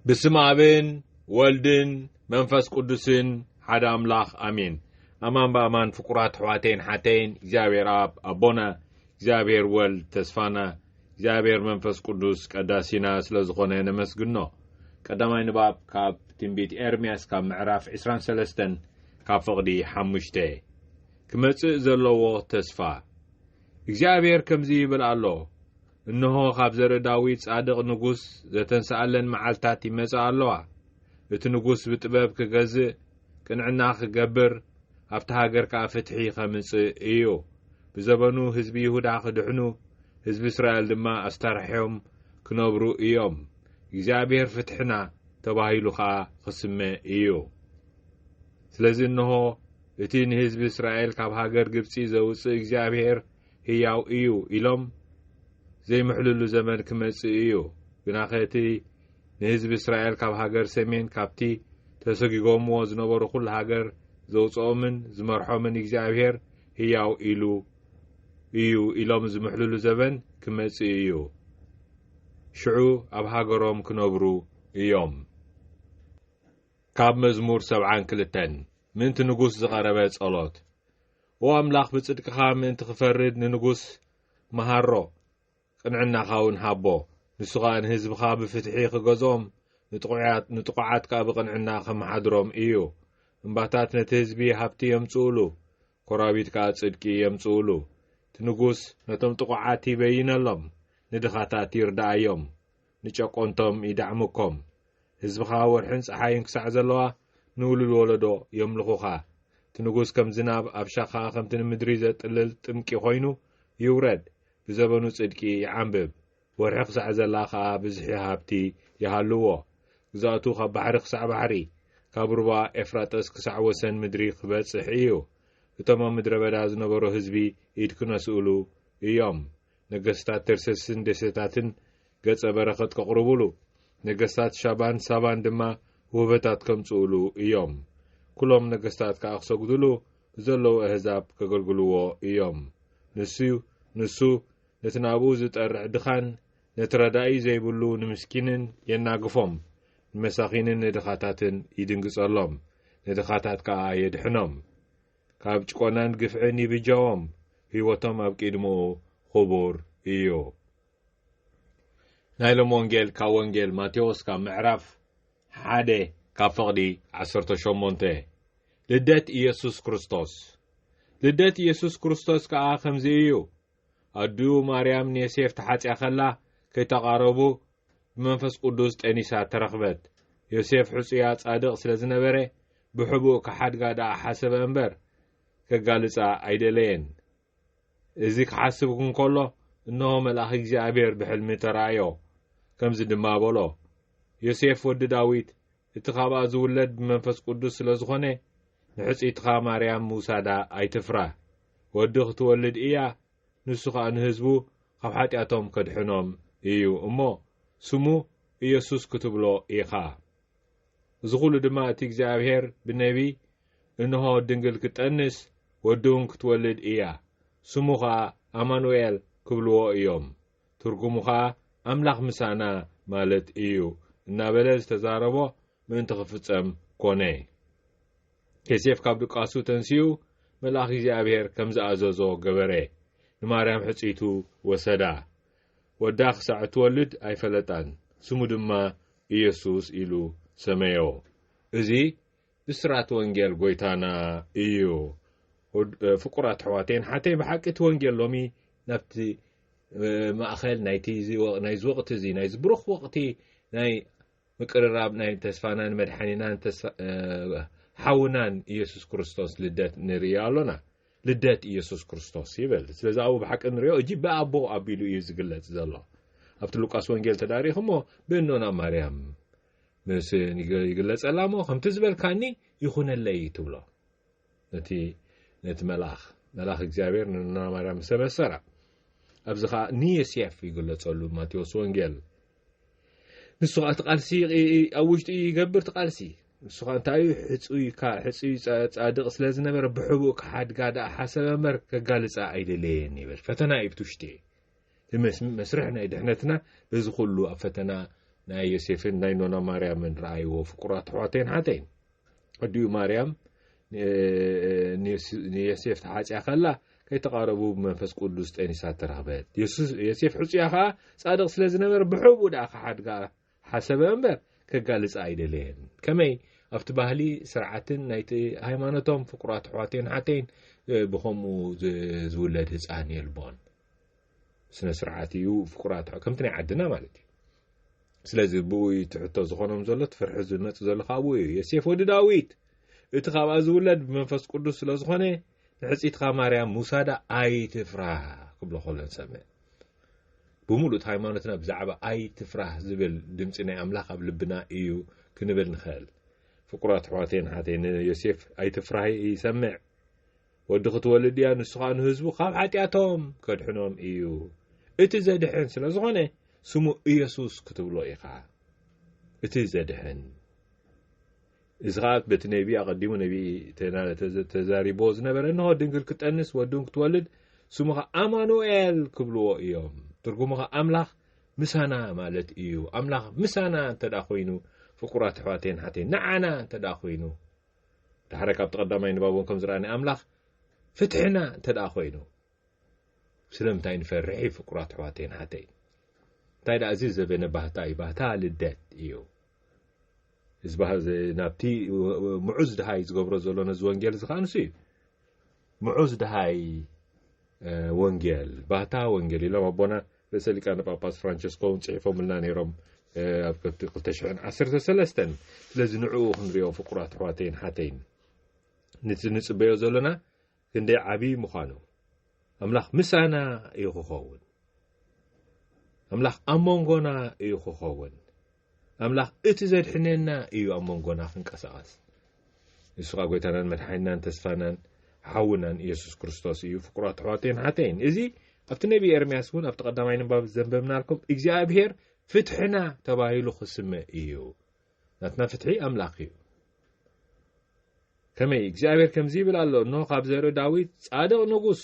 ብስም ኣብን ወልድን መንፈስ ቅዱስን ሓደ ኣምላኽ ኣሜን። ኣማን ብኣማን ፍቁራት ኣሕዋተይን ሓተይን እግዚኣብሔር ኣብ ኣቦና እግዚኣብሔር ወልድ ተስፋና እግዚኣብሔር መንፈስ ቅዱስ ቀዳሲና ስለ ዝኾነ ነመስግኖ። ቀዳማይ ንባብ ካብ ትንቢት ኤርምያስ ካብ ምዕራፍ 23 ካብ ፍቕዲ ሓሙሽተ ክመጽእ ዘለዎ ተስፋ እግዚኣብሔር ከምዚ ይብል ኣሎ እንሆ ኻብ ዘርኢ ዳዊት ጻድቕ ንጉስ ዘተንስኣለን መዓልትታት ይመጻ ኣሎዋ። እቲ ንጉስ ብጥበብ ክገዝእ፣ ቅንዕና ክገብር፣ ኣብታ ሃገር ከኣ ፍትሒ ኸምጽእ እዩ። ብዘበኑ ህዝቢ ይሁዳ ክድሕኑ፣ ህዝቢ እስራኤል ድማ ኣስተርሕዮም ክነብሩ እዮም። እግዚኣብሄር ፍትሕና ተባሂሉ ኸኣ ኽስመ እዩ። ስለዚ እንሆ፣ እቲ ንህዝቢ እስራኤል ካብ ሃገር ግብጺ ዘውጽእ እግዚኣብሄር ህያው እዩ ኢሎም ዘይምሕልሉ ዘመን ክመጽእ እዩ ግናኸ እቲ ንህዝቢ እስራኤል ካብ ሃገር ሰሜን ካብቲ ተሰጊጎምዎ ዝነበሩ ዅሉ ሃገር ዘውፅኦምን ዝመርሖምን እግዚኣብሔር ህያው ኢሉ እዩ ኢሎም ዝምሕልሉ ዘበን ክመጽእ እዩ ሽዑ ኣብ ሃገሮም ክነብሩ እዮም ካብ መዝሙር ሰብዓን ክልተን ምእንቲ ንጉስ ዝቐረበ ጸሎት ኦ ኣምላኽ ብጽድቅኻ ምእንቲ ክፈርድ ንንጉስ መሃሮ ቅንዕናኻ እውን ሃቦ ንሱ ኸኣ ንህዝብኻ ብፍትሒ ክገዝኦም ንጥቑዓት ከኣ ብቕንዕና ከመሓድሮም እዩ እምባታት ነቲ ህዝቢ ሃብቲ የምጽኡሉ ኮራቢት ከኣ ጽድቂ የምጽኡሉ እቲ ንጉስ ነቶም ጥቑዓት ይበይነሎም ንድኻታት ይርዳኣዮም ንጨቆንቶም ይዳዕሙኮም ህዝብኻ ወርሕን ጸሓይን ክሳዕ ዘለዋ ንውሉድ ወለዶ የምልኹኻ እቲ ንጉስ ከም ዝናብ ኣብ ሻኻ ከምቲ ንምድሪ ዘጥልል ጥምቂ ኮይኑ ይውረድ ብዘበኑ ጽድቂ ይዓንብብ ወርሒ ክሳዕ ዘላ ከኣ ብዝሒ ሃብቲ ይሃልዎ ግዛእቱ ካብ ባሕሪ ክሳዕ ባሕሪ ካብ ሩባ ኤፍራጠስ ክሳዕ ወሰን ምድሪ ክበጽሕ እዩ እቶም ኣብ ምድረ በዳ ዝነበሩ ህዝቢ ኢድ ክነስእሉ እዮም ነገስታት ተርሰስን ደሴታትን ገጸ በረኸት ከቕርቡሉ፣ ነገስታት ሻባን ሳባን ድማ ውህበታት ከምጽኡሉ እዮም። ኩሎም ነገስታት ከኣ ክሰግዱሉ ንዘለዉ ኣህዛብ ከገልግልዎ እዮም። ንሱ ንሱ ነቲ ናብኡ ዝጠርዕ ድኻን ነቲ ረዳኢ ዘይብሉ ንምስኪንን የናግፎም፣ ንመሳኺንን ንድኻታትን ይድንግጸሎም፣ ንድኻታት ከኣ የድሕኖም። ካብ ጭቆናን ግፍዕን ይብጃዎም ህይወቶም ኣብ ቂድምኡ ኹቡር እዩ። ናይ ሎም ወንጌል ካብ ወንጌል ማቴዎስ ካብ ምዕራፍ ሓደ ካብ ፍቕዲ ዓሰርተ ሸሞንተ ልደት ኢየሱስ ክርስቶስ ልደት ኢየሱስ ክርስቶስ ከኣ ከምዚ እዩ። ኣዲኡ ማርያም ንየሴፍ ተሓጽያ ከላ ከይተቓረቡ ብመንፈስ ቅዱስ ጠኒሳ ተረኽበት። ዮሴፍ ሕጹያ ጻድቕ ስለ ዝነበረ ብሕቡእ ክሓድጋ ደኣ ሓሰበ እምበር ከጋልጻ ኣይደለየን። እዚ ክሓስብ እንከሎ እነሆ መልኣኽ እግዚኣብሔር ብሕልሚ ተራእዮ፣ ከምዚ ድማ በሎ፣ ዮሴፍ ወዲ ዳዊት እቲ ካብኣ ዝውለድ ብመንፈስ ቅዱስ ስለ ዝኾነ፣ ንሕጽይትኻ ማርያም ምውሳዳ ኣይትፍራህ። ወዲ ክትወልድ ኢያ፣ ንሱ ኸኣ ንህዝቡ ኻብ ሓጢኣቶም ከድሕኖም ኢዩ እሞ፣ ስሙ ኢየሱስ ክትብሎ ኢኻ። እዚ ዅሉ ድማ እቲ እግዚኣብሄር ብነብዪ፣ እንሆ፣ ድንግል ክትጠንስ፣ ወዲውን ክትወልድ ኢያ፣ ስሙ ኸኣ ኣማኑኤል ክብልዎ ኢዮም። ትርጉሙ ኸኣ ኣምላኽ ምሳና ማለት እዩ እናበለ ዝተዛረቦ ምእንቲ ኺፍጸም ኰነ። ዮሴፍ ካብ ድቃሱ ተንሲኡ መልኣኽ እግዚኣብሄር ከም ዝኣዘዞ ገበረ። ንማርያም ሕጽይቱ ወሰዳ። ወዳ ኽሳዕ እትወልድ ኣይፈለጣን፣ ስሙ ድማ ኢየሱስ ኢሉ ሰመዮ። እዚ ብስራት ወንጌል ጎይታና እዩ። ኡድ ፍቁራት ኣሕዋተይን ሓተይ ብሓቂ እቲ ወንጌል ሎሚ ናብቲ ማእኸል ናይቲ ናይዚ ወቕቲ እዚ ናይዚ ብሩኽ ወቕቲ ናይ ምቅርራብ ናይ ተስፋናን መድሓኒናን ሓውናን ኢየሱስ ክርስቶስ ልደት ንርኢ ኣሎና። ልደት ኢየሱስ ክርስቶስ ይብል። ስለዚ ኣብኡ ብሓቂ ንሪኦ እጂ ብኣቦ ኣቢሉ እዩ ዝግለጽ ዘሎ። ኣብቲ ሉቃስ ወንጌል ተዳሪኹሞ ብእኖና ማርያም ምስ ይግለጸላ እሞ ከምቲ ዝበልካኒ ይኹነለይ ትብሎ ነቲ ነቲ መልኣኽ መልኣኽ እግዚኣብሔር ንና ማርያም ምስ ተበሰራ ኣብዚ ከዓ ንየስየፍ ይግለጸሉ ማቴዎስ ወንጌል ንሱ ከዓ እቲ ቃልሲ ኣብ ውሽጡ ይገብር እቲ ቃልሲ ንሱ ከዓ እንታይ እዩ ሕፁይ ሕፁይ ፃድቅ ስለ ዝነበረ ብሕቡእ ክሓድጋ ደኣ ሓሰበ እምበር ከጋልፃ ኣይደለየን ይብል ፈተና እዩ ብቲ ውሽጢ መስርሕ ናይ ድሕነትና በዚ ኩሉ ኣብ ፈተና ናይ ዮሴፍን ናይ ኖና ማርያምን ረኣይዎ ፍቁራት ኣሕዋተይን ሓተይን ኣዲኡ ማርያም ንዮሴፍ ተሓፅያ ከላ ከይተቓረቡ ብመንፈስ ቅዱስ ጠኒሳ ተረኽበት ዮሴፍ ሕፁያ ከዓ ፃድቕ ስለ ዝነበረ ብሕቡ ደኣ ክሓድጋ ሓሰበ እምበር ከጋልፃ ኣይደለየን ከመይ ኣብቲ ባህሊ ስርዓትን ናይቲ ሃይማኖቶም ፍቁራት ኣሕዋተይን ሓተይን ብከምኡ ዝውለድ ህፃን የልቦን ስነ ስርዓት እዩ ፍቁራት ከምቲ ናይ ዓድና ማለት እዩ ስለዚ ብኡ እዩ እቲ ሕቶ ዝኾኖም ዘሎ እቲ ፍርሒ ዝመፅእ ዘሎ ካብኡ እዩ የሴፍ ወዲ ዳዊት እቲ ካብኣ ዝውለድ ብመንፈስ ቅዱስ ስለ ዝኾነ ንሕፂትኻ ማርያም ምውሳዳ ኣይትፍራህ ክብሎ ከሎ ንሰምዕ ብምሉእ ሃይማኖትና ብዛዕባ ኣይትፍራህ ዝብል ድምፂ ናይ ኣምላኽ ኣብ ልብና እዩ ክንብል ንኽእል ፍቁራት ኣሕዋተይን ሓተይ ንዮሴፍ ኣይትፍራህ ይሰምዕ ወዲ ክትወልድ እያ ንሱ ኸኣ ንህዝቡ ካብ ሓጢኣቶም ከድሕኖም እዩ። እቲ ዘድሕን ስለ ዝኾነ ስሙ ኢየሱስ ክትብሎ ኢኻ። እቲ ዘድሕን እዚ ኸኣ በቲ ነቢ ኣቐዲሙ ነቢ ተዛሪቦ ዝነበረ እንሆ ድንግል ክጠንስ ወድን ክትወልድ ስሙ ኸኣ ኣማኑኤል ክብልዎ እዮም። ትርጉሙ ኸኣ ኣምላኽ ምሳና ማለት እዩ። ኣምላኽ ምሳና እንተ ኮይኑ ፍቁራት ኣሕዋተይን ሓተይን ንዓና እንተ ኮይኑ ደሓር ካብቲ ቀዳማይ ንባብ እውን ከም ዝረኣናዮ ኣምላኽ ፍትሕና እንተ ደኣ ኮይኑ ስለምንታይ ንፈርሕ እዩ ፍቁራት ኣሕዋተይን ሓተይን እንታይ ደኣ እዚ ዘበነ ባህታ እዩ ባህታ ልደት እዩ ናብቲ ምዑዝ ድሃይ ዝገብሮ ዘሎ ነዚ ወንጌል እዚ ከዓ ንሱ እዩ ምዑዝ ደሃይ ወንጌል ባህታ ወንጌል ኢሎም ኣቦና ርእሰ ሊቃነ ጳጳስ ፍራንቸስኮ እውን ጽሒፎምልና ነይሮም ኣብ ከብቲ 213 ስለዚ ንዕኡ ክንሪኦ ፍቁራት ኣሕዋተይን ሓተይን ንቲ ንጽበዮ ዘሎና ክንደይ ዓብዪ ምዃኑ ኣምላኽ ምሳና እዩ ክኸውን ኣምላኽ ኣብ መንጎና እዩ ክኸውን ኣምላኽ እቲ ዘድሕነና እዩ ኣብ መንጎና ክንቀሳቐስ። ንሱ ኸኣ ጐይታናን መድሓኒናን ተስፋናን ሓውናን ኢየሱስ ክርስቶስ እዩ። ፍቁራት ኣሕዋተይን ኣሓተይን፣ እዚ ኣብቲ ነብዪ ኤርምያስ እውን ኣብቲ ቀዳማይ ንባብ ዘንበብናልኩም እግዚኣብሔር ፍትሕና ተባሂሉ ክስመ እዩ። ናትና ፍትሒ ኣምላኽ እዩ። ከመይ እግዚኣብሔር ከምዚ ይብል ኣሎ፣ እንሆ ካብ ዘርኢ ዳዊት ጻድቕ ንጉስ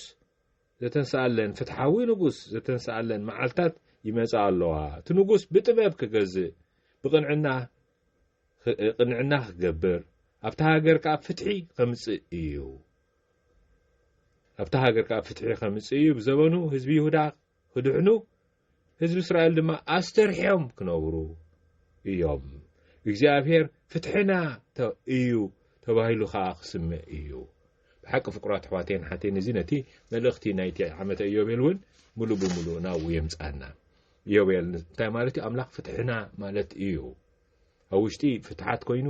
ዘተንስኣለን ፍትሓዊ ንጉስ ዘተንስኣለን መዓልታት ይመጻ ኣሎዋ። እቲ ንጉስ ብጥበብ ክገዝእ ብቕንዕና ቅንዕና ክገብር ኣብታ ሃገር ከኣ ፍትሒ ከምጽእ እዩ ኣብታ ሃገር ከኣ ፍትሒ ከምጽእ እዩ ብዘበኑ ህዝቢ ይሁዳ ክድሕኑ ህዝቢ እስራኤል ድማ ኣስተርሕዮም ክነብሩ እዮም። እግዚኣብሔር ፍትሕና እዩ ተባሂሉ ከኣ ክስምዕ እዩ። ብሓቂ ፍቁራት ኣሕዋተይን ሓተይን እዚ ነቲ መልእኽቲ ናይቲ ዓመተ እዮቤል እውን ምሉእ ብምሉእ ናብኡ የምጽኣና። እዮቤል እንታይ ማለት እዩ? ኣምላኽ ፍትሕና ማለት እዩ። ኣብ ውሽጢ ፍትሓት ኮይኑ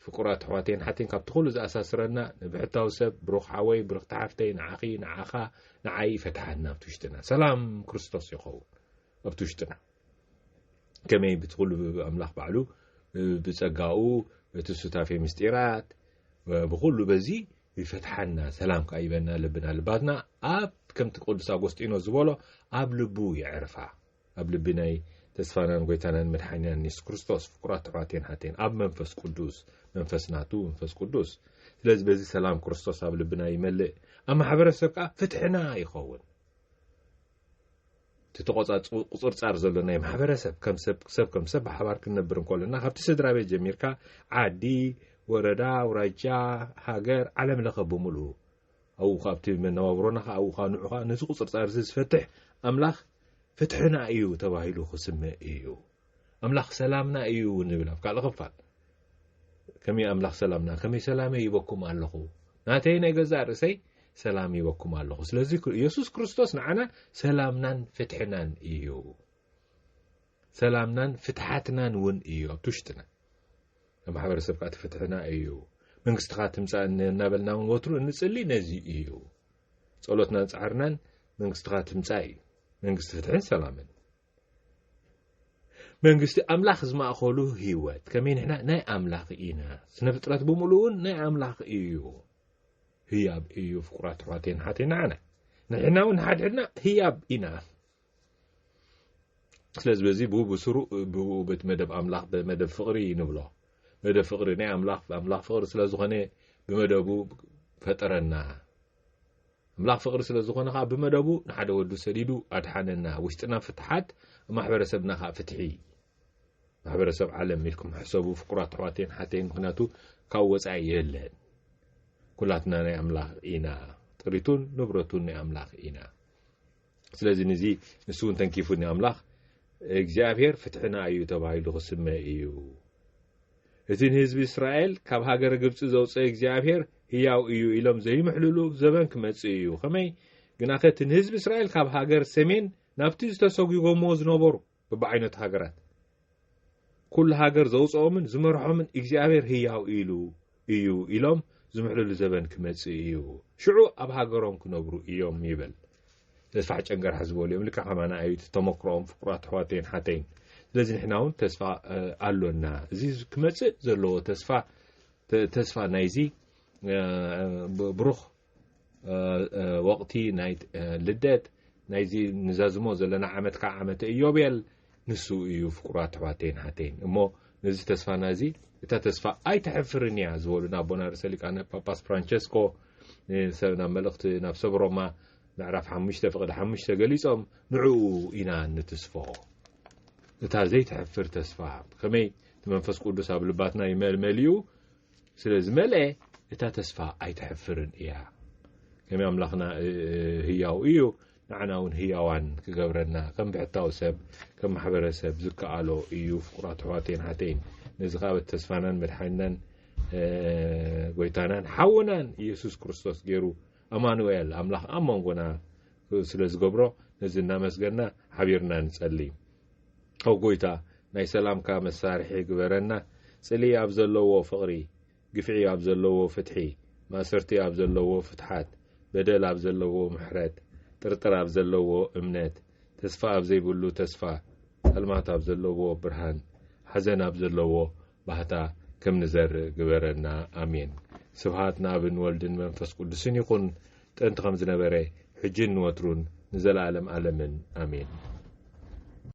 ፍቁራት ኣሕዋተይን ሓተይን ካብቲ ኩሉ ዝኣሳስረና ንብሕታዊ ሰብ ብሩኽ ሓወይ ብርኽቲ ሓፍተይ ንዓኺ ንዓኻ ንዓይ ይፈትሓና ኣብቲ ውሽጥና ሰላም ክርስቶስ ይኸውን ኣብቲ ውሽጥና ከመይ ብቲ ኩሉ ኣምላኽ ባዕሉ ብጸጋኡ እቲ ሱታፌ ምስጢራት ብኩሉ በዚ ይፈትሓና ሰላም ከዓ ይበና ልብና ልባትና ኣብ ከምቲ ቅዱስ ኣጎስጢኖስ ዝበሎ ኣብ ልቡ የዕርፋ ኣብ ልቢ ናይ ተስፋናን ጎይታናን መድሓኒናን የሱስ ክርስቶስ ፍቁራት ኣሕዋቴን ሓቴን ኣብ መንፈስ ቅዱስ መንፈስ ናቱ መንፈስ ቅዱስ ስለዚ በዚ ሰላም ክርስቶስ ኣብ ልብና ይመልእ ኣብ ማሕበረሰብ ከዓ ፍትሕና ይኸውን እቲ ተቆፃቁፅርፃር ዘሎ ናይ ማሕበረሰብ ሰብ ከም ሰብ ብሓባር ክንነብር እንከሎና ካብቲ ስድራ ቤት ጀሚርካ ዓዲ ወረዳ ውራጃ ሃገር ዓለም ለኸ ብምሉኡ ኣብኡ ኸኣ ኣብቲ መነባብሮና ኸኣ ኣብኡ ኸኣ ንዑ ኸኣ ነዚ ቁጽርጻርዚ ዝፈትሕ ኣምላኽ ፍትሕና እዩ ተባሂሉ ክስመ እዩ። ኣምላኽ ሰላምና እዩ እውን ይብል ኣብ ካልእ ክፋል። ከመይ ኣምላኽ ሰላምና ከመይ ሰላመይ ይበኩም ኣለኹ ናተይ ናይ ገዛእ ርእሰይ ሰላም ይበኩም ኣለኹ ስለዚ ኢየሱስ ክርስቶስ ንዓና ሰላምናን ፍትሕናን እዩ ሰላምናን ፍትሓትናን እውን እዩ ኣብቲ ውሽጥና። ኣብ ማሕበረሰብ ከኣ እቲ ፍትሕና እዩ። መንግስትኻ ትምጻእ እናበልና እውን ወትሩ እንጽሊ ነዚ እዩ። ጸሎትናን ጻዕርናን መንግስትኻ ትምጻእ እዩ። መንግስቲ ፍትሕን ሰላምን። መንግስቲ ኣምላኽ ዝማእኸሉ ህይወት ከመይ ንሕና ናይ ኣምላኽ ኢና ስነ ፍጥረት ብምሉእ እውን ናይ ኣምላኽ እዩ ህያብ እዩ ፍቁራት ኣሕዋተይን ሓተይ ንዓና ንሕና እውን ንሓድሕድና ህያብ ኢና ስለዚ በዚ ብኡ ብስሩ ብኡ በቲ መደብ ኣምላኽ ብመደብ ፍቕሪ ንብሎ መደብ ፍቕሪ ናይ ኣምላኽ ኣምላኽ ፍቕሪ ስለ ዝኾነ ብመደቡ ፈጠረና ኣምላኽ ፍቕሪ ስለ ዝኾነ ከዓ ብመደቡ ንሓደ ወዱ ሰዲዱ ኣድሓነና ውሽጥና ፍትሓት ማሕበረሰብና ከዓ ፍትሒ ማሕበረሰብ ዓለም ኢልኩም ሕሰቡ ፍቁራት ኣሕዋተይን ሓተይን ምክንያቱ ካብ ወፃኢ የለን ኩላትና ናይ ኣምላኽ ኢና ጥሪቱን ንብረቱን ናይ ኣምላኽ ኢና ስለዚ ንዚ ንሱ እውን ተንኪፉኒ ኣምላኽ እግዚኣብሔር ፍትሕና እዩ ተባሂሉ ክስመ እዩ እቲ ንህዝቢ እስራኤል ካብ ሃገረ ግብፂ ዘውፅአ እግዚኣብሔር ህያው እዩ ኢሎም ዘይምሕልሉ ዘበን ክመፅእ እዩ ከመይ ግናኸ እቲ ንህዝቢ እስራኤል ካብ ሃገር ሰሜን ናብቲ ዝተሰጒጎምዎ ዝነበሩ በብዓይነቱ ሃገራት ኩሉ ሃገር ዘውጽኦምን ዝመርሖምን እግዚኣብሔር ህያው ኢሉ እዩ ኢሎም ዝምሕልሉ ዘበን ክመጽእ እዩ ሽዑ ኣብ ሃገሮም ክነብሩ እዮም ይብል ተስፋሕ ጨንገርሓ ዝበሉ እዮም ልክዕ ከማና እዩ ተመክሮኦም ፍቁራት ኣሕዋተይን ሓተይን ስለዚ ንሕና እውን ተስፋ ኣሎና እዚ ክመጽእ ዘለዎ ተስፋ ተስፋ ናይዚ ብሩኽ ወቕቲ ናይ ልደት ናይዚ ንዘዝሞ ዘለና ዓመት ከዓ ዓመተ እዮቤል ንሱ እዩ ፍቁራት ኣሕዋተይን ሓተይን እሞ ነዚ ተስፋና እዚ እታ ተስፋ ኣይትሕፍርን እያ ዝበሉ ናብ ኣቦና ርእሰ ሊቃነ ጳጳስ ፍራንቸስኮ ናብ መልእኽቲ ናብ ሰብ ሮማ ምዕራፍ ሓሙሽተ ፍቕዲ ሓሙሽተ ገሊጾም ንዕኡ ኢና ንትስፎ እታ ዘይትሕፍር ተስፋ ከመይ እቲ መንፈስ ቅዱስ ኣብ ልባትና ይመልመል እዩ ስለ ዝመልኤ እታ ተስፋ ኣይተሕፍርን እያ ከመይ ኣምላኽና ህያው እዩ ንዓና እውን ህያዋን ክገብረና ከም ብሕታዊ ሰብ ከም ማሕበረሰብ ዝከኣሎ እዩ ፍቁራት ኣሕዋተይን ሓተይን ነዚ ከዓ በት ተስፋናን መድሓኒናን ጎይታናን ሓውናን ኢየሱስ ክርስቶስ ገይሩ ኣማኑኤል ኣምላኽ ኣብ መንጎና ስለ ዝገብሮ ነዚ እናመስገና ሓቢርና ንጸልይ ኦው ጎይታ ናይ ሰላምካ መሳርሒ ግበረና ጽልኢ ኣብ ዘለዎ ፍቅሪ ግፍዒ ኣብ ዘለዎ ፍትሒ ማእሰርቲ ኣብ ዘለዎ ፍትሓት በደል ኣብ ዘለዎ ምሕረት ጥርጥር ኣብ ዘለዎ እምነት ተስፋ ኣብ ዘይብሉ ተስፋ ጸልማት ኣብ ዘለዎ ብርሃን ሓዘን ኣብ ዘለዎ ባህታ ከም ንዘርእ ግበረና ኣሜን ስብሃት ንኣብን ወልድን መንፈስ ቅዱስን ይኹን ጥንቲ ከም ዝነበረ ሕጂን ንወትሩን ንዘለኣለም ኣለምን ኣሜን።